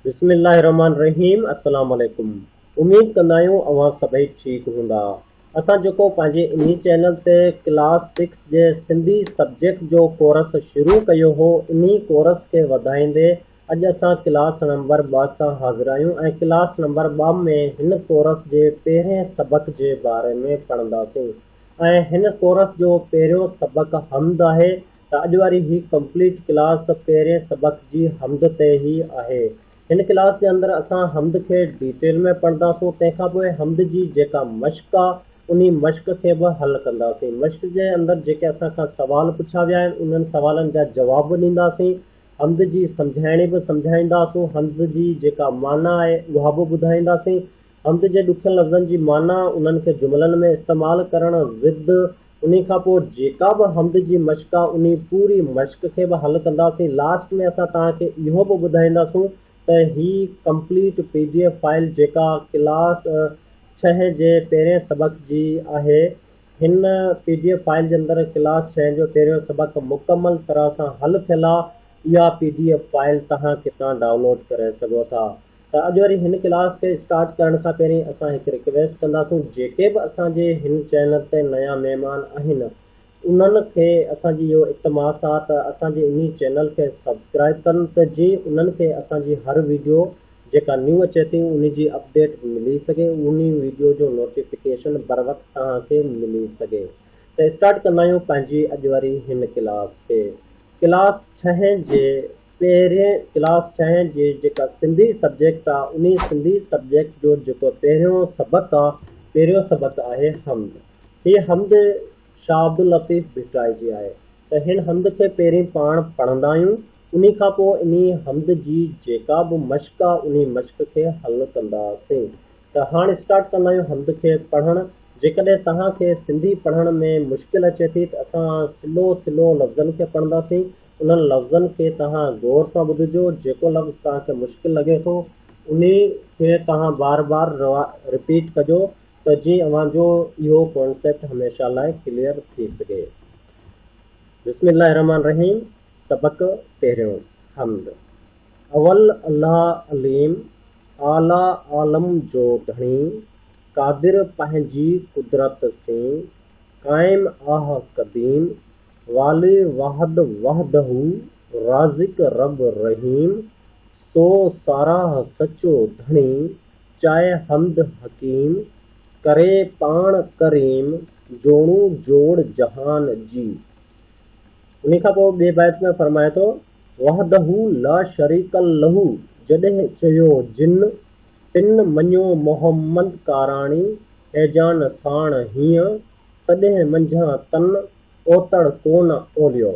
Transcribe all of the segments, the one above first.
بسم الله الرحمٰن الرحيم السلام عليڪم اميد ڪندا آهيون اوهان سڀئي ٺيڪ هوندا اسان جيڪو پنهنجي انهي چينل تي ڪلاس سڪس جي سنڌي سبجيڪٽ جو ڪورس شروع ڪيو هو انهي ڪورس کي وڌائيندي اڄ اسان ڪلاس نمبر ٻه سان حاضر آهيون ۽ ڪلاس نمبر ٻه ۾ هن ڪورس جي پهرين سبق جي باري ۾ پڙهنداسين ۽ هن ڪورس جو پهريون سبق حمد آهي ته اڄ واري هي ڪمپليٽ ڪلاس پهرين سبق جي حمد تي ئي آهي. هن ڪلاس جي اندر اسان حمد کي ڊيٽيل ۾ پڙهنداسون تنهن کان پوء حمد جي جيڪا مشق آ انهي مشق کي به حل ڪنداسين. مشق جي اندر جيڪي اسان کان سوال پڇيا ويا آهن انهن سوالن جا جواب به ڏينداسين. حمد جي سمجهائڻي به سمجهائينداسون. حمد جي جيڪا معنيٰ آهي اها به ٻڌائينداسين. حمد جي ڏکين لفظن جي معنيٰ، انهن کي جملن ۾ استعمال ڪرڻ، ضد، انهي کان پوء جيڪا به حمد جي مشق آ، انهي پوري مشق کي به حل ڪنداسين. لاسٽ ۾ اسان توهان کي اهو به ٻڌائينداسون ته هي complete P D F file جيڪا ڪلاس ڇهين جي پهرين سبق جي آهي، هن پي ڊي ايف فائل جي اندر ڪلاس ڇهين جو پهريون سبق مڪمل طرح سان حل ٿيل آ. اها پي ڊي ايف فائل توهان ڪتان ڊائونلوڊ ڪري سگهو ٿا. ته اڄ وري هن ڪلاس کي اسٽارٽ ڪرڻ کان پهرين اسان هڪ رڪويسٽ ڪنداسون جيڪي به اسان جي هن چينل تي نيا مهمان آهن انهن کي اسان جي اهو التماس آ ته اسان جي انهي چينل کي سبسڪرائب ڪن ته جي انهن کي اسان جي هر ويڊيو جيڪا نيو اچي ٿي انهي جي اپڊيٽ ملي سگهي انهي ويڊيو جو نوٽيفڪيشن بروقت توهان کي ملي سگهي ته اسٽارٽ ڪندا آهيون پنهنجي اڄ وري هن ڪلاس کي ڪلاس ڇهين جي پهرين ڪلاس ڇهين جي جيڪا سنڌي سبجيڪٽ آ انهي سنڌي سبجيڪٽ جو جيڪو پهريون سبق آ پهريون سبق آهي حمد هي حمد شاهه عبداللطيف ڀٽائي جي آهي ته هن حمد کي پهرين پاڻ پڙهندا آهيون انهي کان پوء انهي حمد جي جيڪا به مشق آ انهي مشق کي حل ڪنداسين ته هاڻ اسٽارٽ ڪندا آهيون حمد کي پڙهڻ جيڪڏهن توهان کي سنڌي پڙهڻ ۾ مشڪل اچي ٿي ته اسان سلو سلو لفظن کي پڙهنداسين انهن لفظن کي توهان غور سان ٻڌجو، جيڪو لفظ توهان کي مشڪل لڳي ٿو انهي کي توهان بار بار رپيٽ ڪجو ته جي اوهان جو اهو ڪانسيپٽ هميشه لاء ڪليئر ٿي سگهي. بسم الله الرحمن الرحيم سبق پهريون حمد اول الله عليم اعليٰ عالم جو ڌڻي قادر پنهنجي قدرت سين قائم آهه قديم والي واحد وحده رازق رب رحيم سو ساراهه سچو ڌڻي چائي حمد حڪيم ڪري پاڻ ڪريم جوڻو جوڙ جهان جي انهي کان پوء ٻي بيت ۾ فرمائي ٿو وحده لا شريڪ له جڏهن چيو جن تن مڃيو محمد ڪاراڻي هيجان ساڻ هينء تڏهن منجهان تن اوتڻ ڪون اوليو.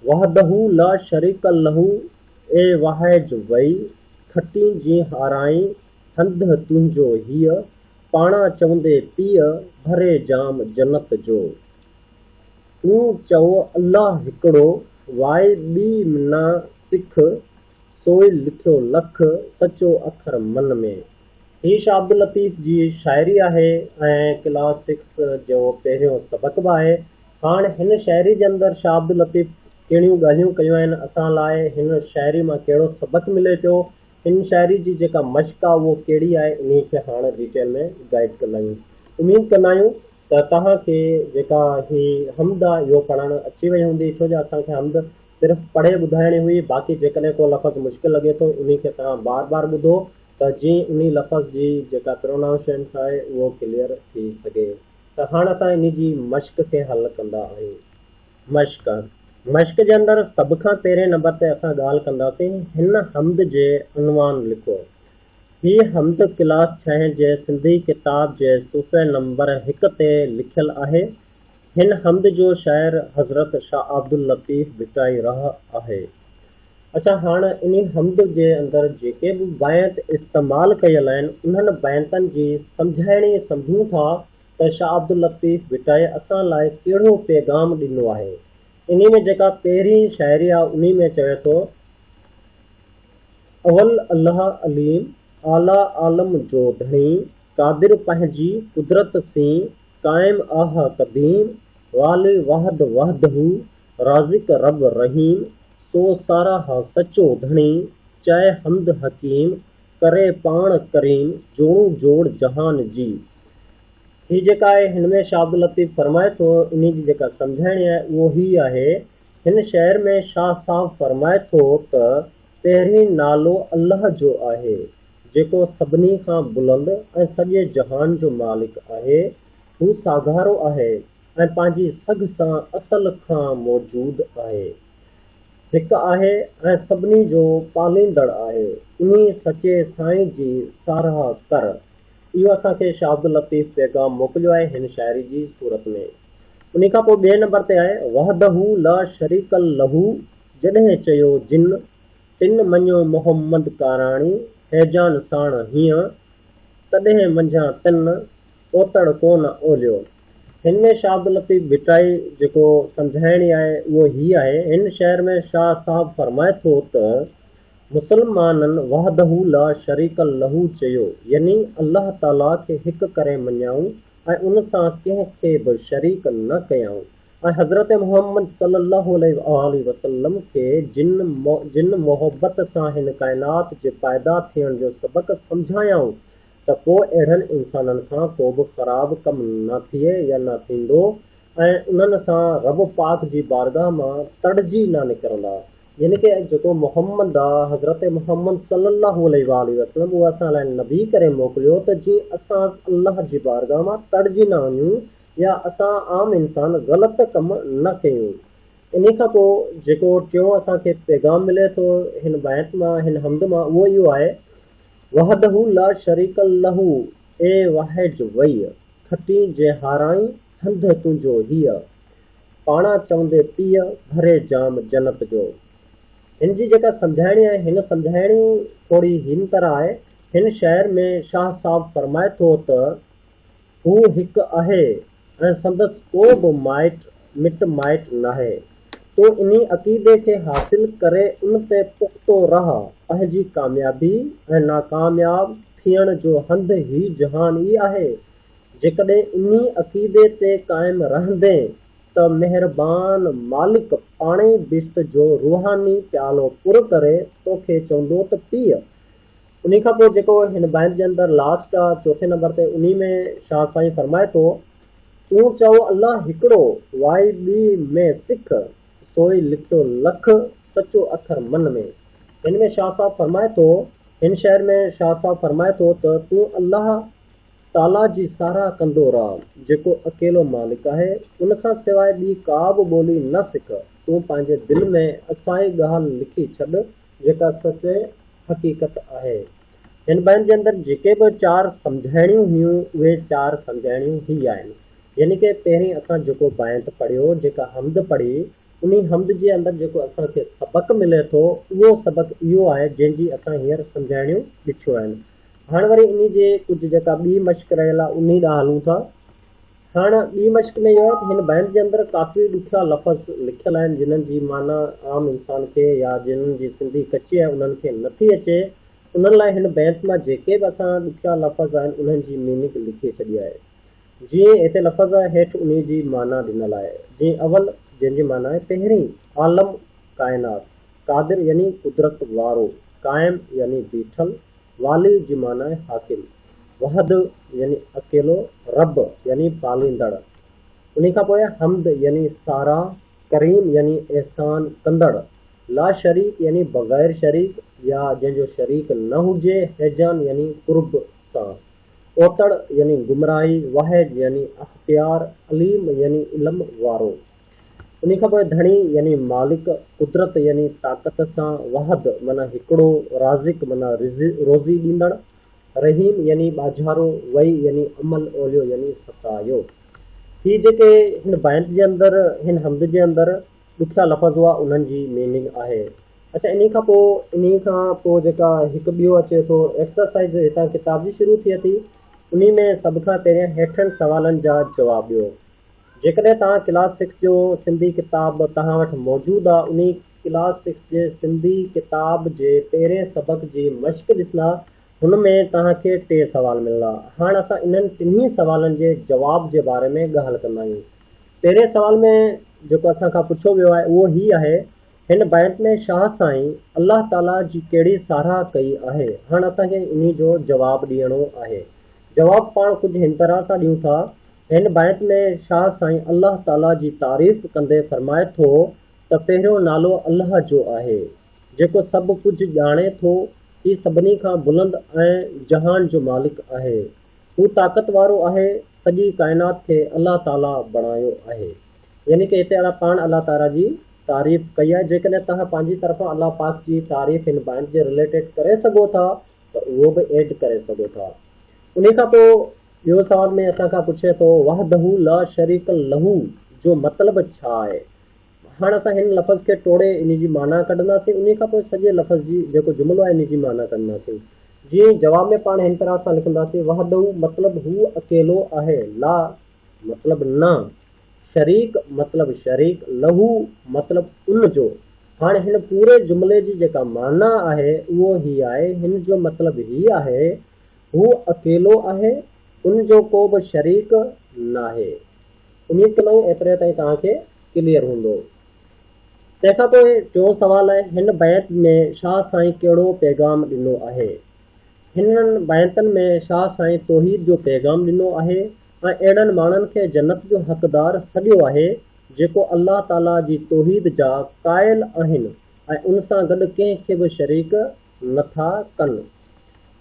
وحده لا شريڪ له اي واهج وئي کٽين جي هارائين هنده تنهنجو هيء پاڻا چوندي پيء ڀري جام جنت جو. تون چئو الله هڪڙو واء ٻي نه سک. سوئيل لکيو لک، سچو اکر من ۾. هي شاهه عبداللطيف جي شاعري آهي ۽ ڪلاس سڪس جو پهريون سبق به آهي. هاڻ هن شاعري جي اندر شاهه عبداللطيف ڪهڙيون ڳالهيون ڪيون آهن، اسان لاء هن شاعري مان ڪهڙو سبق ملي پيو، هن شاعري جي جيڪا مشق آهي اهو ڪهڙي آهي انهي کي هاڻ ڊيٽيل ۾ گائيڊ ڪندا آهيون. اميد ڪندا آهيون ته توهان کي جيڪا هي حمد آهي اهو پڙهڻ اچي وئي هوندي ڇو جو اسان کي حمد صرف پڙهي ٻڌائڻي هئي، باقي جيڪڏهن ڪو لفظ مشڪل لڳي ٿو انهي کي توهان بار بار ٻڌو ته جيئن انهي لفظ جي جيڪا پرونائونشئنس آهي اهو ڪليئر ٿي سگهي ته هاڻ اسان انهي جي مشق کي حل ڪندا آهيون. مشق، مشق جي اندر سڀ کان پهرين نمبر تي اسان ڳالهه ڪنداسين هن حمد جي عنوان لکو. هي حمد ڪلاس ڇهين جي سنڌي ڪتاب جي صفحي نمبر هڪ تي لکيل آهي هن حمد جو شاعر حضرت شاهه عبداللطيف ڀٽائي رح آهي. اچا هاڻ انهي حمد جي اندر جيڪي به بينت استعمال ڪيل آهن انهن بينتن جي سمجهائڻي سمجهون ٿا ته شاهه عبداللطيف ڀٽائي اسان لاء ڪهڙو پيغام ڏنو آهي. انهي ۾ جيڪا پهرين شاعري آهي انهي ۾ چوي ٿو. اول الله عليم اعليٰ عالم جو ڌڻي قادر پنهنجي قدرت سين قائم آه قديم، والي وحد وحده، رازق رب رحيم، سو ساراهه سچو ڌڻي، چئه حمد حڪيم، ڪري پاڻ ڪريم، جوڻو جوڙ جهان جي. هي جيڪا آهي هن ۾ شاهه عبداللطيف فرمائي ٿو انهي جي جيڪا سمجهائڻي آهي اهو هي آهي، هن شعر ۾ شاهه صاحب فرمائي ٿو ته پهرين نالو الله جو آهي جيڪو سڀني کان بلند ۽ سڄي جهان جو مالڪ آهي، هو ساگهارو آهي ۽ پنهنجي سگهه سان اصل کان موجود آهي. هڪ آهي ۽ سڀني جو پاليندڙ آهي. انهي سچي سائين جي ساراهه ڪر. اهو اسان کي شاهه عبداللطيف پيغام موڪليو آهي هن شاعري جي صورت ۾. انهي کان پوء ٻئي نمبر تي آهي وحده لا شريڪ له جڏهن چيو جن تن مڃيو محمد ڪاراڻي هيجان ساڻ هيئن، تڏهن منجهان تن اوتڙ ڪو نه اولهيو. هن ۾ شاهه عبداللطيف ڀٽائي جيڪو سمجهائڻي آهي اهو هي آهي، هن شعر ۾ شاهه صاحب فرمائي ٿو ته، مسلمانن وحده لا شريڪ له چيو، يعني الله تعاليٰ کي هڪ ڪري مڃيائون ۽ ان سان ڪنهن کي به شريڪ نه ڪيائون. ۽ حضرت محمد صلّي اللّٰه عليه واٰله وسلّم کي جن جن محبت سان هن ڪائنات جي پيدا ٿيڻ جو سبق سمجهايائون ته پوء اهڙن انسانن کان ڪوبه خراب ڪم نه ٿئي يا نه ٿيندو ۽ انهن سان ربّ پاڪ جي بارگاھ مان تڙجي نه نڪرندا يعني ڪه جيڪو محمّد آ حضرت محمّد صلّي اللّٰه عليه واٰله وسلّم اهو اسان لاء نبي ڪري موڪليو ته جيئن اسان الله جي بارگاھ مان تڙجي نه وڃون يا اسان عام انسان غلط ڪم نه ڪيون. انهي کان پوء جيڪو ٽيون اسان کي پيغام ملي ٿو هن بيت مان، هن حمد مان اهو اهو آهي، وحده لا شريڪ له اي واحج وئي، کٽين جي هارائين هنڌ تنهنجو هيء، پاڻان چوندي پيء، ڀري جام جنت جو. هن جي جيڪا سمجهائڻي آهي، هن سمجهائڻي ٿوري هن طرح آهي، هن شعر ۾ شاهه صاحب فرمائي ٿو ته. هو هڪ آهي ۽ سندس ڪو به مائٽ مٽ مائٽ ناهي. تون انهي عقيدي کي حاصل ڪري ان تي پختو رهه، پنهنجي ڪاميابي ۽ ناڪامياب ٿيڻ جو هنڌ هي جهان ئي آهي. جيڪڏهن انهي عقيدي تي قائم رهندين ته مهربان مالڪ پاڻهي بهشت جو روحاني پيالو پر ڪري توکي چوندو ته پيء! انهي کان پوء جيڪو هن بيت جي اندر لاسٽ آ چوٿين نمبر تي انهي ۾ شاهه سائين فرمائي ٿو، تون چئو الله هڪڙو، واء ٻي ۾ سک، سوء لکيو لک، سچو اکر من ۾. هن ۾ شاهه صاحب فرمائي ٿو، هن شعر ۾ شاهه صاحب فرمائي ٿو ته تون الله تعاليٰ جي ساراهه ڪندو رهه جيڪو اڪيلو مالڪ آهي، ان کان سواء ٻي ڪا به ٻولي نه سک، تون پنهنجي دل ۾ اسائي ڳالهه لکي ڇڏ جيڪا سچ حقيقت آهي. هن بيان جي اندر جيڪي به چار سمجهائڻيون هيون اهي چار سمجهائڻيون هي آهن. يعني ڪه پهرين اسان جيڪو بيانت پڙهيو، جيڪا حمد پڙهي، انهي حمد جي اندر جيڪو اسان کي سبق ملي ٿو اهو سبق اهو آهي جنهن جي اسان هينئر سمجهائڻيون ڏٺيون آهن. هاڻ وري انهي جي ڪجهه جيڪا ٻي مشق رهيل آهي انهي ڏانهن هلون ٿا. هاڻ ٻي مشق ۾ اهو آهي ته هن بينڊ جي اندر ڪافي ڏکيا لفظ لکيل آهن جنهن جي معنيٰ عام انسان کي يا جنهن جي سنڌي ڪچي آهي انهن کي نٿي اچي انهن لاء هن بينڊ مان جيڪي به اسان ڏکيا لفظ آهن انهن جي ميننگ لکي ڇڏي آهي جيئن هتي لفظ آهي هيٺ انهي جي معنيٰ ڏنل آهي جيئن اول جنهن جي معنيٰ آهي پهرين عالم ڪائنات قادر يعني قدرت وارو قائم يعني بيٺل والي جي معنيٰ آهي حاڪم. وحد يعني اڪيلو، رب يعني پاليندڙ، انهي کان پوء حمد يعني ساراهه، ڪريم يعني احسان ڪندڙ، لاشريڪ يعني بغير شريڪ يا جنهن جو شريڪ نه هجي، هيجان يعني قرب سان، اوتڙ يعني گمراهي، واحد يعني اختيار، عليم يعني علم وارو، انهي کان پوء ڌڻي يعني مالڪ، قدرت يعني طاقت سان، وحد معنيٰ هڪڙو، رازق معنيٰ روزي ڏيندڙ، رحيم يعني ٻاجهارو، وئي يعني امن، اوليو يعني ستايو. هي جيڪي هن بينت جي اندر، هن حمد جي اندر ڏکيا لفظ هئا انهن جي ميننگ آهي. اڇا انهي کان پوء انهي کان پوء جيڪا هڪ ٻيو اچي ٿو ايڪسرسائيز هتان ڪتاب جي شروع ٿئي ٿي انهي ۾ سڀ کان پهريان هيٺين سوالن جا جواب ڏيو. جيڪڏهن توهان ڪلاس سڪس جو سنڌي ڪتاب توهان وٽ موجود آهي انهي ڪلاس سڪس جي سنڌي ڪتاب جي پهرين سبق جي مشق ڏسندا هن ۾ توهان کي ٽي سوال ملندا هاڻ اسان انهن ٽنهي سوالن جي جواب جي باري ۾ ڳالهه ڪندا آهيون پهرين سوال ۾ جيڪو اسان کان پڇيو ويو آهي اهو هي آهي هن بيت ۾ شاهه سائين الله تعالي جي ڪهڙي ساراهه ڪئي آهي هاڻ اسان کي انهي جو جواب ڏيڻو آهي جواب پاڻ ڪجهه هن طرح سان ڏيون ٿا هن بيت ۾ شاهه سائين الله تعاليٰ جي تعريف ڪندي فرمائي ٿو ته پهريون نالو الله جو آهي، جيڪو سڀ ڪجهه ڄاڻي ٿو، هي سڀني کان بلند ۽ جهان جو مالڪ آهي، هو طاقت وارو آهي، سڄي ڪائنات کي الله تعاليٰ بڻايو آهي. يعني ڪه هتي الله پاڻ الله تعاليٰ جي تعريف ڪئي آهي، جيڪڏهن توهان پنهنجي طرفان الله پاڪ جي تعريف هن بيت جي رليٽيڊ ڪري سگهو ٿا ته اهو به ايڊ ڪري سگهو ٿا. انهي کان پوء ٻيو سوال ۾ اسان کان پڇي ٿو وحده لا شريڪ له جو مطلب ڇا آهي؟ هاڻ اسان هن لفظ کي ٽوڙي ان جي معنيٰ ڪڍنداسين انهي کان پوء سڄي لفظ جي جيڪو جملو آهي ان جي معنيٰ ڪڍنداسين جي جواب ۾ پاڻ هن طرح سان لکنداسين وحده مطلب هو اڪيلو آهي لا مطلب نه شريڪ مطلب شريڪ له مطلب ان جو هاڻ هن پوري جملي جي جيڪا معنيٰ آهي اهو هي آهي هن جو مطلب هي آهي هو اڪيلو آهي، ان جو ڪو به شريڪ ناهي. اميد ڪندو آهيان ايتري تائين توهان کي ڪليئر هوندو. تنهن کان پوء ٽيون سوال آهي هن بيت ۾ شاهه سائين ڪهڙو پيغام ڏنو آهي؟ هنن بيتن ۾ شاهه سائين توحيد جو پيغام ڏنو آهي ۽ اهڙن ماڻهن کي جنت جو حقدار سڏيو آهي جيڪو الله تعاليٰ جي توحيد جا قائل آهن ۽ ان سان گڏ ڪنهن کي به شريڪ نٿا ڪن.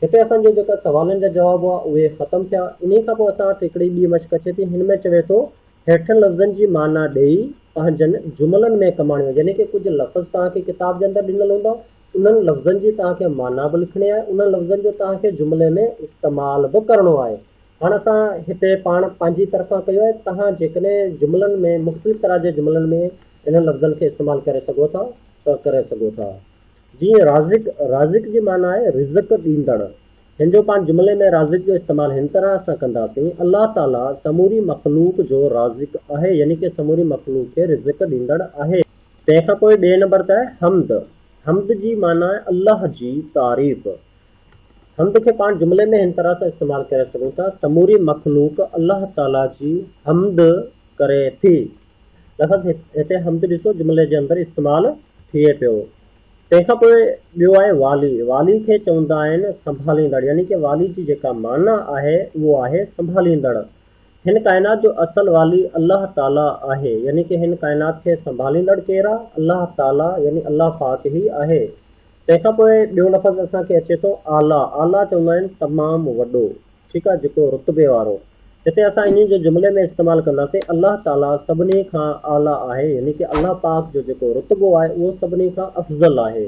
هتي اسان جي جيڪا سوالن جا جواب هئا اهي ختم ٿيا. انهي کان پوء اسان وٽ هڪڙي ٻي مشق اچي ٿي هن ۾ چوي ٿو هيٺين لفظن جي معنيٰ ڏيئي پنهنجن جملن ۾ ڪماڻيو يعني ڪي ڪجهه لفظ توهان کي ڪتاب جي اندر ڏنل هوندا انهن لفظن جي توهان کي معنيٰ به لکڻي آهي انهن لفظن جو توهان کي جملي ۾ استعمال به ڪرڻو آهي. هاڻ اسان هتي پاڻ پنهنجي طرفان ڪيو آهي توهان جيڪڏهن جملن ۾ مختلف طرح جي جملن ۾ انهن لفظن کي استعمال ڪري سگهو ٿا ته ڪري سگهو ٿا. جيئن رازق، رازق جي معنيٰ آهي رزق ڏيندڙ. هن جو پاڻ جملي ۾ رازق جو استعمال هن طرح سان ڪنداسين، الله تعاليٰ سموري مخلوق جو رازق آهي يعني ڪه سموري مخلوق کي رزق ڏيندڙ آهي. تنهن کان پوء ٻئي نمبر تي آهي حمد، حمد جي معنيٰ آهي الله جي تعريف. حمد کي پاڻ جملي ۾ هن طرح سان استعمال ڪري سگهون ٿا، سموري مخلوق الله تعاليٰ جي حمد ڪري ٿي. لفظ هتي حمد ڏسو جملي جي اندر استعمال ٿئي پيو. تنهن کان پوء ٻيو آهي والي. والي کي چوندا آهن سنڀاليندڙ يعني ڪه والي جي جيڪا معنيٰ آهي اهو آهي سنڀاليندڙ. هن ڪائنات جو اصل والي الله تعاليٰ آهي يعني ڪه هن ڪائنات کي سنڀاليندڙ ڪير آهي؟ الله تعاليٰ يعني الله پاڪ ئي آهي. تنهن کان پوء ٻيو لفظ اسان کي اچي ٿو اعليٰ. اعليٰ چوندا آهن تمام وڏو. ٺيڪ آهي جيڪو رتبي وارو هتي اسان انهي جو جملي ۾ استعمال ڪنداسين الله تعالي سڀني کان اعليٰ آهي يعني ڪه الله پاڪ جو جيڪو رتبو آهي اهو سڀني کان افضل آهي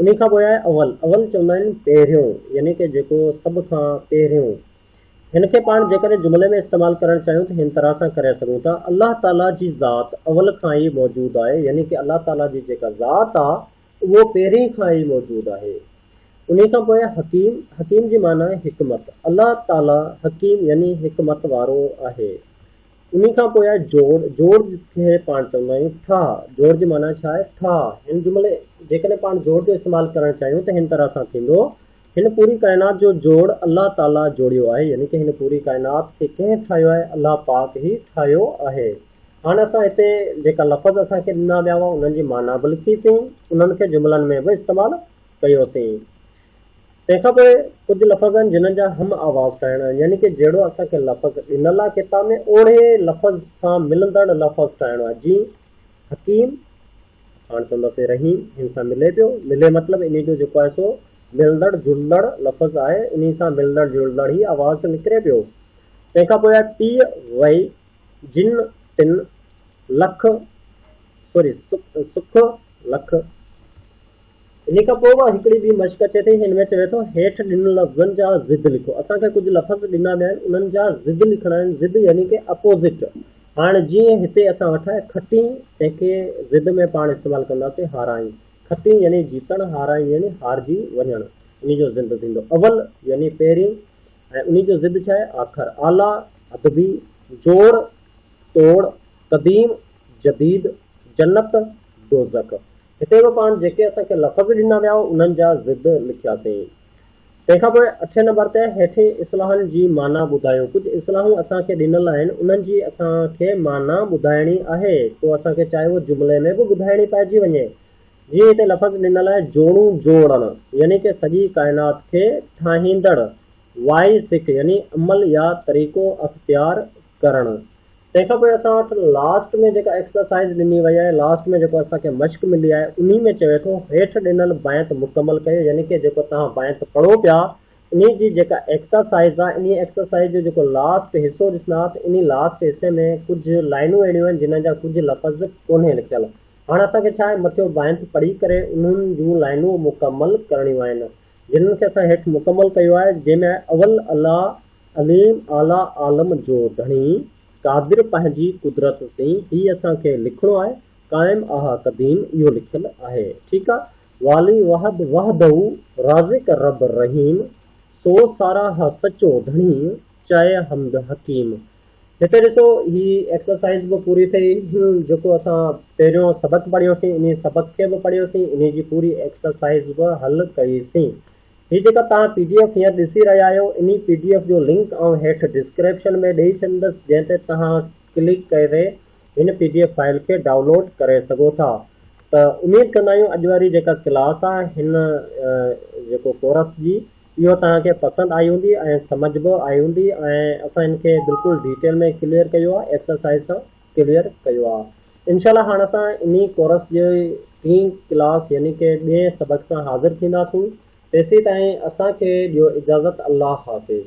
انهي کان پوء آهي اول اول چوندا آهن پهريون يعني ڪه جيڪو سڀ کان پهريون هن کي پاڻ جيڪڏهن جملي ۾ استعمال ڪرڻ چاهيون ته هن طرح سان ڪري سگهون ٿا الله تعالي جي ذات اول کان ئي موجود آهي يعني ڪه الله تعالي جي جيڪا ذات آهي اهو پهرين کان ئي موجود آهي. انهي کان پوء حڪيم، حڪيم جي معنيٰ حڪمت، الله تعاليٰ حڪيم يعني حڪمت وارو آهي. انهي کان پوء جوڙ، جوڙ کي پاڻ چوندا آهيون ٺاهه، جوڙ جي معنيٰ ڇا آهي؟ ٺاهه. هن جملي جيڪڏهن پاڻ جوڙ جو استعمال ڪرڻ چاهيون ته هن طرح سان ٿيندو، هن پوري ڪائنات جو جوڙ الله تعاليٰ جوڙيو آهي يعني ڪه هن پوري ڪائنات کي ڪنهن ٺاهيو آهي؟ الله پاڪ ئي ٺاهيو آهي. هاڻ اسان هتي جيڪا لفظ اسان کي ڏنا ويا هئا انهن جي معنيٰ به لکي سين، انهن کي جملن ۾ به استعمال ڪيو سين. تنهن کان پوء ڪجهه لفظ آهن جنهن جا هم آواز ٺاهڻا آهن يعني ڪه جهڙو اسان کي لفظ ڏنل آهي ڪتاب ۾ اوڙهي لفظ سان ملندڙ لفظ ٺاهڻو آهي جيئن حڪيم پاڻ چونداسين رحيم هن سان ملي پيو ملي مطلب انهي جو جيڪو آهي سو ملندڙ جلندڙ لفظ آهي انهي سان ملندڙ جلندڙ هي آواز نڪري پيو تنهن کان پوء آهي پيء وئي جن تن لک سوري سک لک. انهي کان پوء به هڪڙي ٻي مشق اچي ٿي هن ۾ چوي ٿو هيٺ ڏنل لفظن جا ضد لکو اسان کي ڪجهه لفظ ڏنا ويا آهن انهن جا ضد لکڻا آهن ضد يعني ڪي اپوزٽ هاڻ جيئن هتي اسان وٽ آهي کٽين تنهن کي ضد ۾ پاڻ استعمال ڪنداسين هارائين کٽين يعني جيتڻ هارائين يعني هارجي وڃڻ ان جو ضد ٿيندو اول يعني پهرين ۽ انهي جو ضد ڇا آهي؟ آخر، اعليٰ، ادبي، جوڙ، توڙ، قديم، جديد، جنت، دوزخ. هتي به پاڻ جيڪي اسان کي لفظ ڏنا ويا هو انهن جا ضد لکياسين. تنهن کان پوء اٺين نمبر تي هيٺين اصلاحن جي معنيٰ ٻڌايو. ڪجهه اصلاحون اسان کي ڏنل آهن انهن جي اسان کي معنيٰ ٻڌائڻي آهي. ڪو اسان کي چاهي اهو جملي ۾ به ٻڌائڻي پئجي وڃي جيئن هتي لفظ ڏنل آهي جوڻو جوڙڻ يعني ڪه سڄي ڪائنات کي ٺاهيندڙ وائي سک يعني عمل يا طريقو اختيار ڪرڻ تنهن کان پوء اسان وٽ لاسٽ ۾ جيڪا ايڪسرسائيز ڏني وئي آهي لاسٽ ۾ جيڪو اسان کي مشق ملي آهي انهي ۾ چوي ٿو هيٺ ڏنل بيت مڪمل ڪيو يعني ڪه جيڪو توهان بيت پڙهو پيا انهي جي جيڪا ايڪسرسائيز آهي انهي ايڪسرسائيز جو جيڪو لاسٽ حصو ڏسندا ته انهي لاسٽ حصي ۾ ڪجهه لائنون اهڙيون آهن جنهن جا ڪجهه لفظ ڪونهي لکيل هاڻ اسان کي ڇا آهي مٿيون بانيت پڙهي ڪري انهن جون لائنون مڪمل ڪرڻيون آهن جنهن کي اسان هيٺ مڪمل ڪيو آهي جنهن ۾ آهي اول الله عليم اعليٰ عالم جو ڌڻي قادر پنهنجي قدرت سين هي اسان کي لکڻو آهي قائم آه قديم اهو لکيل آهي ٺيڪ آهي والي واحد وحده رازق رب رحيم سو ساراهه سچو ڌڻي چئه حمد حڪيم هتي ڏسو هي ايڪسرسائز به پوري ٿئي جيڪو اسان پهريون سبق پڙهيوسين انهي سبق کي به پڙهيوسين انهي جي پوري ايڪسرسائز به حل ڪئيسين هي جيڪا توهان پي ڊي ايف هينئر ڏسي رهيا آهيو انهي پي ڊي ايف جو لنڪ آئون هيٺ ڊسڪرپشن ۾ ڏئي ڇڏيندس جنهن تي توهان ڪلڪ ڪري هن پي ڊي ايف فائل کي ڊائونلوڊ ڪري سگهو ٿا ته اميد ڪندا آهيون اڄ واري جيڪا ڪلاس آهي هن جيڪو ڪورس جي اهو توهان کي پسند آئي هوندي ۽ سمجھ به آئي هوندي ۽ اسان هن کي بلڪل ڊيٽيل ۾ ڪليئر ڪيو آهي ايڪسرسائز سان ڪليئر ڪيو آهي انشاء الله هاڻ اسان انهي ڪورس جي ٽين ڪلاس يعني ڪي ٻئي سبق سان حاضر ٿينداسون تيسي تائين اسان کي ڏيو اجازت الله حافظ.